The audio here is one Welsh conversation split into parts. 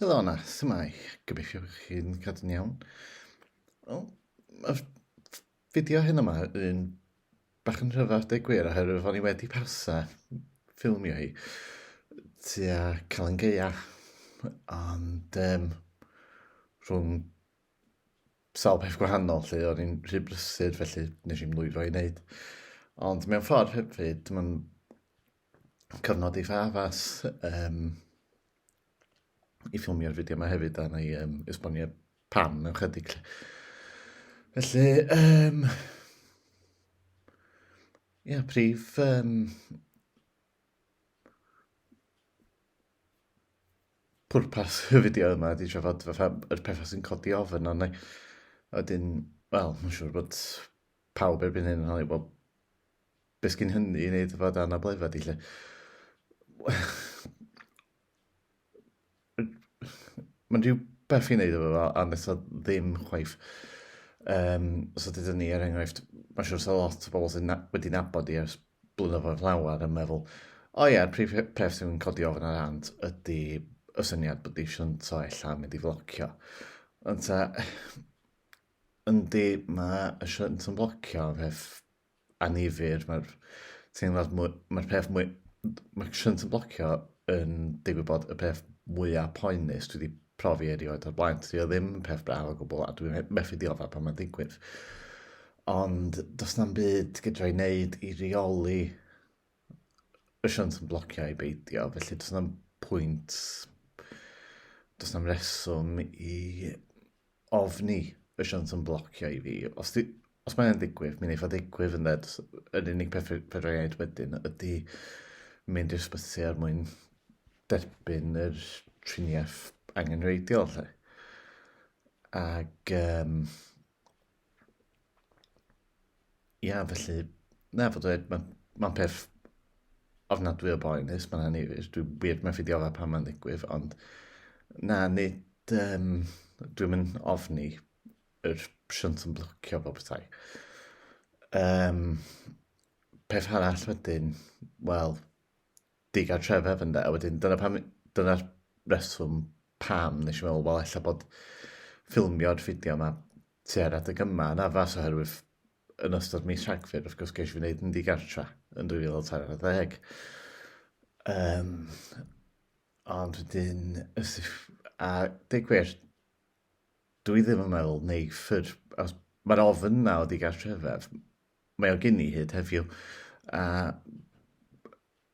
Helo yna, symau, gobeithio chi'n cadw'n iawn. Wel, y fideo hyn yma yn bach yn rhyfedd deg gwir oherwydd o'n i wedi pausa ffilmio hi tua Calan Gaea ond um, rhwng sawl peth gwahanol lle o'n i'n rhy brysur felly nes i'n lwyddo i wneud ond mewn ffordd hefyd mae'n cyfnod eitha addas um, i ffilmio'r fideo yma hefyd, a na i um, esbonio pam mewn chydig. Felly, um, Ie, yeah, prif... Um, pwrpas y fideo yma ydy trafod fatha yr pethau sy'n codi ofyn ond wedyn, wel, mae'n siŵr bod pawb erbyn hyn yn holi, wel, Beth gyn hynny i wneud efo dy anableddfa di, lle? Mae'n rhyw beth i wneud efo fo, a nes o ddim chwaith. Um, so dydyn ni, er enghraifft, mae'n siwr sy'n lot o bobl sy'n na, wedi nabod i ers blynyddoedd llawer yn meddwl, o ia'r prif pref sy'n codi ofn ar ant ydy y syniad bod i siwnt o ella mynd i flocio. Ond ta, yndi, mae y siwnt yn blocio peth annifyr, mae'r teimlad mwy... Mae'r peth mwy... Mae shunt yn blocio yn digwydd bod y peth mwyaf poenus dwi wedi profi erioed o'r blaen. Dwi o ddim yn peth braf o gwbl a dwi'n methu dioddef pan mae'n digwydd. Ond does na'm byd gydra i wneud i reoli asiant yn blocio i beidio, felly does na'm pwynt, does na'm reswm i ofni asiant yn blocio i fi. Os, di, os mae'n ddigwydd, mi'n eitha ddigwydd yn dweud, yr unig peth fedra i wneud wedyn ydy mynd i'r sbyty er mwyn derbyn yr triniaeth angenrheidiol. Lle. Ac um, Ia, felly, na, fod dweud, mae'n ma peth ofnadwy o boenus, mae'n anifir. Dwi'n dwi wir methu diodda pan mae'n ddigwydd, ond na, nid... Um, dwi'n mynd ofni yr siwnt yn blocio bob tai. Um, peth arall wedyn, wel, digartrefedd ynde a wedyn dyna pam dyna'r reswm pam nes i meddwl wel ella bod ffilmio'r fideo yma tua'r adeg yma yn addas oherwydd yn ystod mis Rhagfyr wrth gwrs geisio fi wneud yn digartra yn 2040 um, ond wedyn ys if, a deg gwir dwi ddim yn meddwl neu ffyr os mae'r ofyn na o digartrefedd mae o gyn i hyd heddiw. A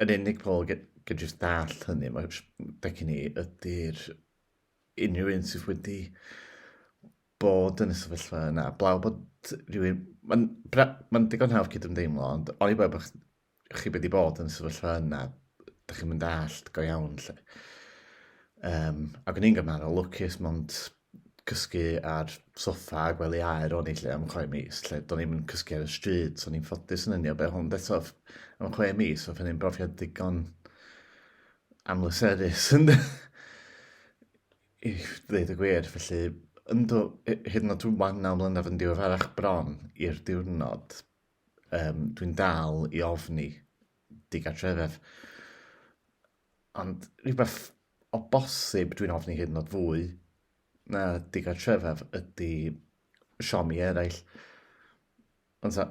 yn unig pobl gan jyst dall hynny, mae Becky ni ydy'r unrhyw un sydd wedi bod yn y sefyllfa yna. Blaw bod rhywun... Mae'n ma digon hawdd cydymdeimlo, ond oni bai bod chi wedi bod yn sefyllfa yna, da chi'n mynd allt go iawn lle. Um, ac o'n i'n gymharol lwcus mond cysgu ar soffa a gwely aer o'n i lle am chwe mis, lle do'n i'n cysgu ar y stryd, so o'n i'n ffodus yn unio be hwn, eto am chwe mis, oedd hynny'n brofiad digon amlyserus yn i ddweud y gwir, felly ynddo, hyd yn oed rwan naw mlynedd yn diweddarach bron i'r diwrnod, um, dwi'n dal i ofni digartrefedd. Ond rhywbeth o bosib dwi'n ofni hyd yn oed fwy na digartrefedd ydy siomi eraill. Ond sa,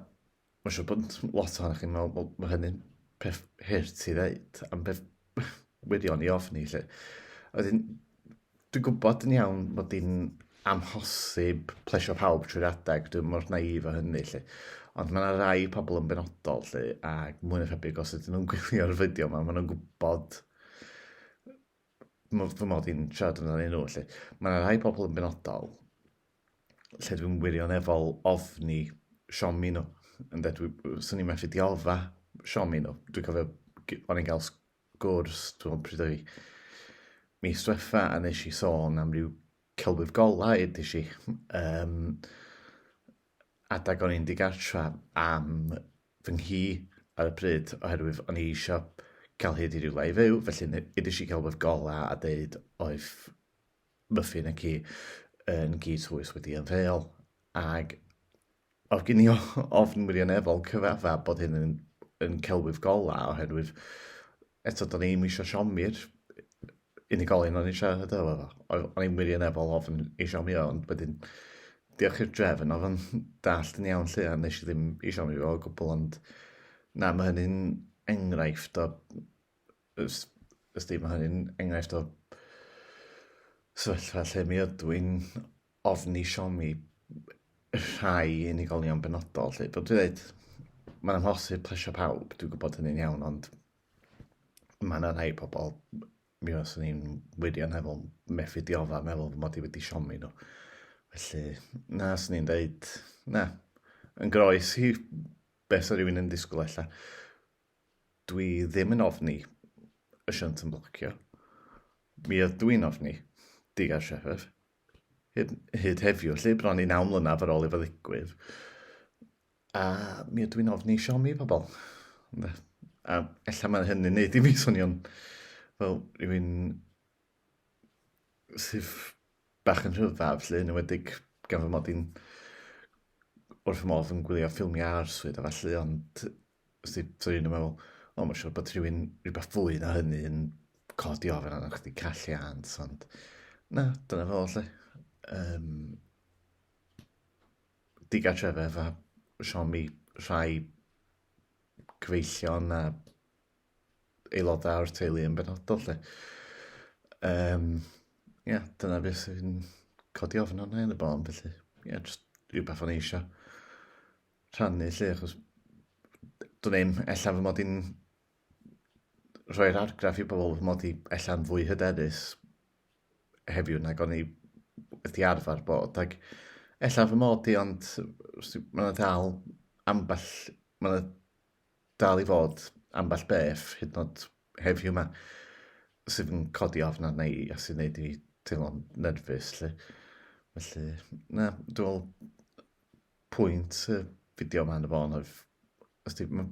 mae'n siŵr bod lot ohonych chi'n meddwl, bod hynny'n peth hurt i ddeud, am beth wirion i ofni, lle. Wedyn, dwi'n gwybod yn iawn bod hi'n amhosib plesio pawb trwy'r adeg, dwi'n mor naif o hynny, lle. Ond mae yna rai pobl yn benodol, lle, ac mwy na thebyg os ydyn nhw'n gwylio'r fideo yma, maen nhw'n gwybod fy mod i'n siarad yn amdanyn nhw, lle. Mae yna rai pobl yn benodol lle dwi'n wirioneddol ofni siomi nhw. Ynde, dwi, swn i'n methu diodda siomi nhw. Dwi'n cofio, o'n i'n cael sgwrs, dwi'n pryd o'i mi stwetha a nes i sôn am ryw celwydd golau ydych chi. Um, adag o'n i'n digartra am fy nghi ar y pryd oherwydd o'n i eisiau cael hyd i ryw lai fyw, felly ydych chi celwydd golau a dweud oedd Muffin y ci yn gi twys wedi ymddeol, ag oedd gen i ofn wirioneddol cyfadda bod hyn yn, yn celwydd gola, oherwydd eto do'n i'n eisiau siomi'r unigolyn o'n eisiau hyd efo fo. O'n i'n wirioneddol ofn ei siomi o, ond wedyn diolch i'r drefn oedd o'n dallt yn iawn lle a nes i ddim i siomi fo o gwbl, ond na, mae hynny'n enghraifft o Os di, mae hynny'n enghraifft o sefyllfa lle mi ydw i'n ofni siomi rhai unigolion benodol. Lle. Dwi'n dweud, mae'n amhosib plesio pawb, dwi'n gwybod hynny'n iawn, ond mae yna rhai pobl mi os o'n i'n wirioneddol methu diofa meddwl fy mod i wedi siomi nhw. Felly, na, os o'n i'n dweud, na, yn groes i beth sy'n rhywun yn disgwyl allan. Dwi ddim yn ofni y shunt yn blocio. Mi ydw i'n ofni Digar Sheffer. Hyd, hyd heddiw, lle bron i naw mlynaf ar ôl i fo ddigwydd. A mi ydw i'n ofni siomi pobl. A ella mae hynny'n neud i mi swnio'n fel rhywun sydd bach yn rhyfaf, lle yn ymwedig gan fy mod i'n wrth fy modd yn gwylio ffilmiau arswyd a falle, ond Os ti, so un yn meddwl, o, mae'n siŵr bod rhywun rhywbeth fwy na hynny yn codi ofyn arno chdi calliant, ond na, dyna fo, lle. Um, digartrefedd a siomi rhai cyfeillion a aelodau o'r teulu yn benodol, lle. Um, ia, yeah, dyna beth sy'n codi ofyn arno yn y bon, felly, ia, yeah, just rhywbeth o'n eisiau. rhannu 'lly achos dwn i'm, ella fy mod i'n rhoi'r argraff i bobl fy mod i ella'n fwy hyderus heddiw nag o'n i wedi arfer bod ac ella fy mod i ond mae yna dal ambell, mae yna dal i fod ambell beth hyd yn oed heddiw yma sydd yn codi ofn arna i a sy'n neud i teimlo'n nerfus 'lly. Felly na, dwi me'wl pwynt y fideo yma yn y bôn oedd, os di, mae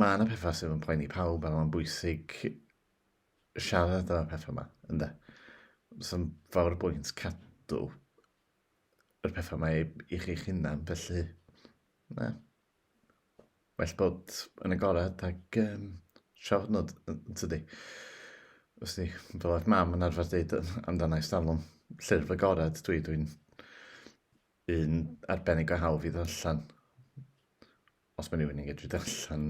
ma yna pethau sydd yn poeni pawb a mae'n bwysig siarad am y pethau yma, ynddo. So'n fawr y bwynt cadw yr pethau yma i, i chi'ch hunan, felly, na. Well bod yn agored ac um, siarad nhw, yn tydi. Os ni, fel oedd mam yn arfer dweud amdana i stalwm, llyrf agored, dwi, dwi'n Un arbennig o hawdd i ddarllen. Os mae rhywun yn gallu darllen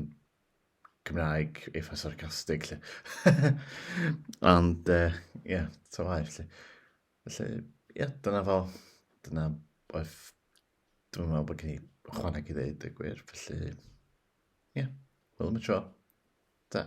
Cymraeg eitha sarcastig, lle. Ond, ie, uh, yeah, to waith, lle. Felly, ie, yeah, dyna fo. Dyna oedd... Dwi'n meddwl bod gen i chwaneg i ddeud y gwir, felly... Ie, yeah, wel, mae tro. Da.